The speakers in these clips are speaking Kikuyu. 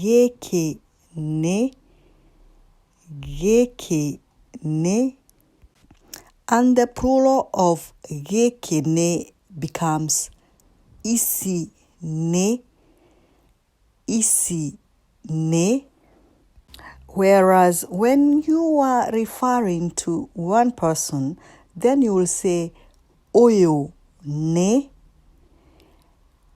Gĩkĩ nĩ, gĩkĩ nĩ, and the plural of gĩkĩ nĩ becomes ici nĩ, ici nĩ, whereas when you are referring to one person then you will say ũyũ nĩ,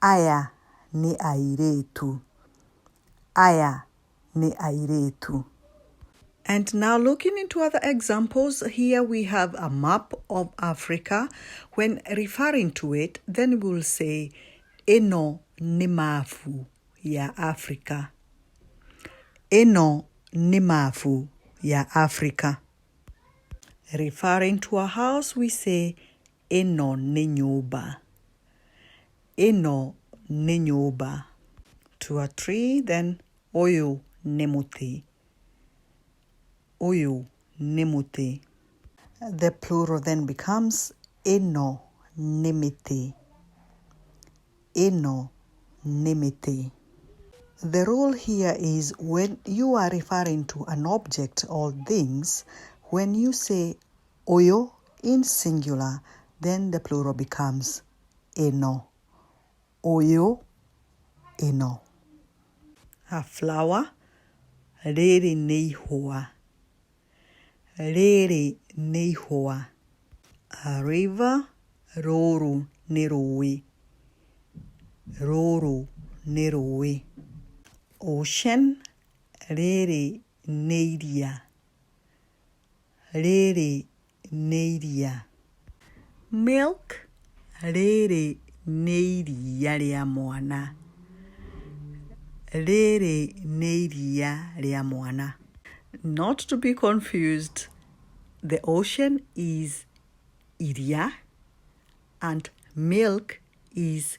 Aya nĩ airĩtu. Aya nĩ airĩtu. And now looking into other examples, here we have a map of Africa. When referring to it, then we will say, ĩno nĩ mabu ya Africa. Ĩno nĩ mabu ya Africa. Referring to a house, we say, Ĩno nĩ nyũmba. Ĩno nĩ nyũmba. To a tree, then ũyũ nĩ mũtĩ. Ũyũ nĩ mũtĩ. The plural then becomes Ĩno nĩ mĩtĩ. Ĩno nĩ mĩtĩ. The rule here is when you are referring to an object or things, when you say Ũyũ, in singular, then the plural becomes ĩno, ũyũ, ĩno. A flower, rĩrĩ nĩ ihũa, rĩrĩ nĩ ihũa. A river, rũrũ nĩ rũĩ, rũrũ nĩ rũĩ. Ocean, rĩrĩ nĩ iria. rĩrĩ nĩ iria. Milk, rĩrĩ nĩ iria rĩa mwana. Rĩrĩ nĩ iria rĩa mwana. Not to be confused, the ocean is iria and milk is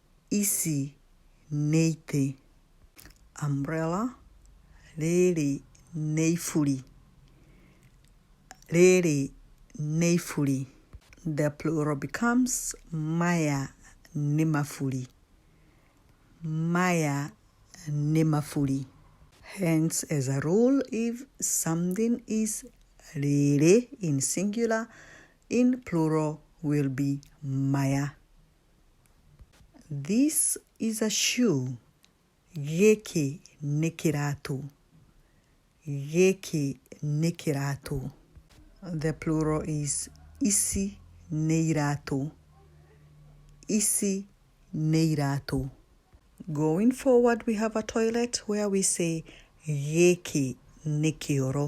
Ici nĩ itĩ. Umbrella. Rĩrĩ nĩ iburi. Rĩrĩ nĩ iburi. The plural becomes Maya nĩ maburi. Maya nĩ maburi. Hence, as a rule, if something is rĩrĩ in singular, in plural will be maya. This is a shoe. Gĩkĩ nĩ kĩratũ. Gĩkĩ nĩ kĩratũ. The plural is ici nĩ iratũ. Ici nĩ iratũ. Going forward we have a toilet where we say gĩkĩ nĩ kĩoro.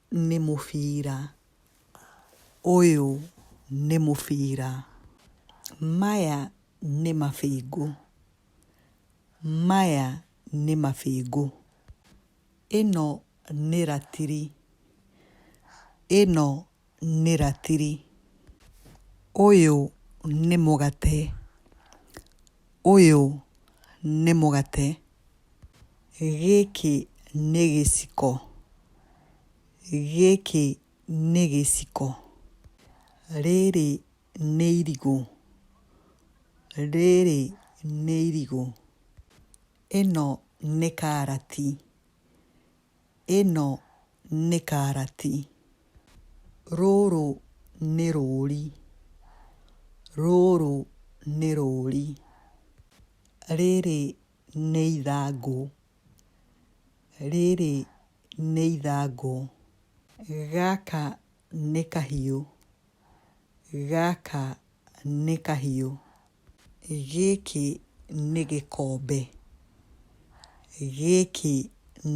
nĩ mũbira, ũyũ nĩ mũbira, maya nĩ mabĩngũ, maya nĩ mabĩngũ, ĩno nĩ ratiri, ĩno nĩ ratiri, ũyũ nĩ mũgate, ũyũ nĩ mũgate. Gĩkĩ nĩ gĩciko. Gĩkĩ nĩ gĩciko. Rĩrĩ nĩ irigũ. Rĩrĩ nĩ irigũ. Ĩno nĩ karati. Ĩno nĩ karati. Rũrũ nĩ rũri. Rũrũ nĩ rũri. Rĩrĩ nĩ ithangũ. Rĩrĩ nĩ ithangũ. Gaka nĩ kahiũ. Gaka nĩ kahiũ. Gĩkĩ nĩ gĩkombe. Gĩkĩ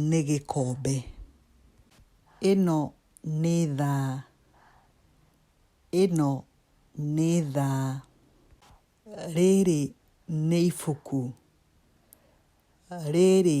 nĩ gĩkombe. Ĩno nĩ thaa. Ĩno nĩ thaa. Rĩrĩ nĩ ibuku. Rĩrĩ.